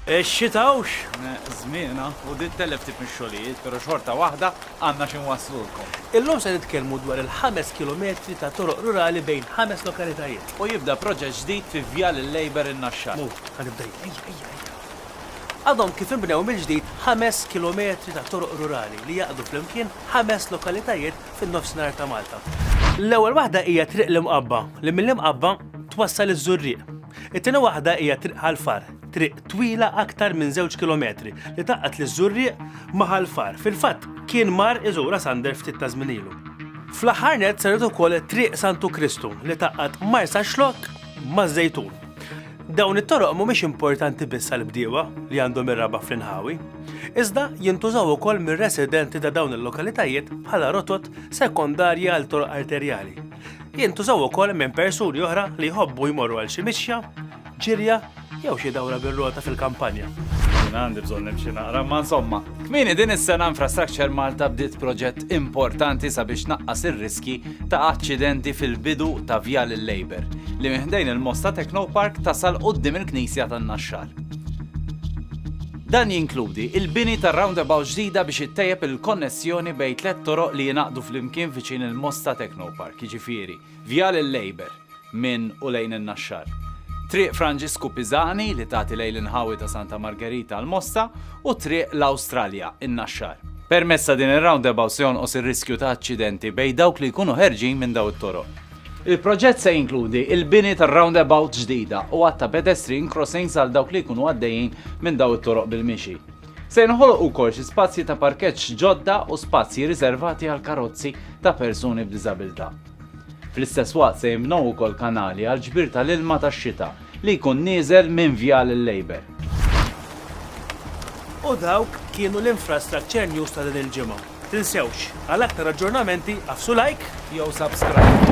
Ix-xita hawnx żmienha u din tellef ftit mix-xogħlijiet, però xorta waħda għandna xi nwasslulkom. Illum se nitkellmu dwar il-ħames kilometri ta' toroq rurali bejn ħames lokalitajiet. U jibda proġett ġdid fi Vjal il-Labour in-Naxxar. Mur, ħa nibda jien, ejja, ejja, ejja. Għadhom kif inbnew mill-ġdid ħames kilometri ta' toroq rurali li jgħaqqdu flimkien ħames lokalitajiet fin-Nofsinhar ta' Malta. L-ewwel waħda hija Triq l-Imqabba, li mill-Imqabba twassal iż-Żurrieq. It-tieni waħda hija Triq Ħal Far, triq twila aktar minn żewġ kilometri li tgħaqqad liż-Żurrieq ma' Ħal Far. Fil-fatt, kien mar iżura Sander ftit ta' żmien ilu. Fl-aħħar nett saret ukoll Triq Santu Kristu li tgħaqqad Marsaxlokk maż-Żejtun. Dawn it-toroq mhumiex importanti biss għall-bdiewa li għandhom ir-raba' fl-inħawi, iżda jintużaw ukoll mir-residenti ta' dawn il-lokalitajiet bħala rotot sekondarji għal toroq arterjali. Jintużaw ukoll minn persuni oħra li jħobbu jmorru għal xi mixja, ġirja jew xi dawra bir-rota fil-kampanja. Jiena għandi bżonn nimxi naqra, ma insomma. Kmieni din is-sena Infrastructure Malta bdiet proġett importanti sabiex tnaqqas ir-riskji ta' aċċidenti fil-bidu ta' Vjal il-Labour, li minn ħdejn il-Mosta Technopark tasal quddiem il-Knisja tan-Naxxar. Dan jinkludi l-bini ta' roundabout ġdida biex ittejjeb il-konnessjoni bejn tliet toroq li jingħaqdu flimkien viċin il-Mosta Technopark, jiġifieri, Vjal il-Labour, minn u lejn in-Naxxar. Triq Franġisku Pisani li tagħti lejn l-inħawi ta' Santa Margerita l-Mosta u Triq l-Awstralja, in-Naxxar. Permezz ta' din ir-roundabout se jonqos ir-riskju ta' aċċidenti bejn dawk li jkunu ħerġin minn dawn it-toroq. Il-proġett se jinkludi l-bini ta' roundabout ġdida u għadd ta' pedestrian crossings għal dawk li jkunu għaddejjin minn dawn it-toroq bil-mixi. Se jinħolqu wkoll xi spazji ta' parkeġġ ġodda u spazji riservati għall-karozzi ta' persuni b'diżabilità. Fl-istess waqt se jinbnew ukoll kanali għall-ġbir tal-ilma tax-xita li jkun nieżel minn Vjal il-Labour. U dawk kienu l-infrastructure news ta' din il-ġimgħa. Tinsewx, għal aktar aġġornamenti agħfsu like jew subscribe.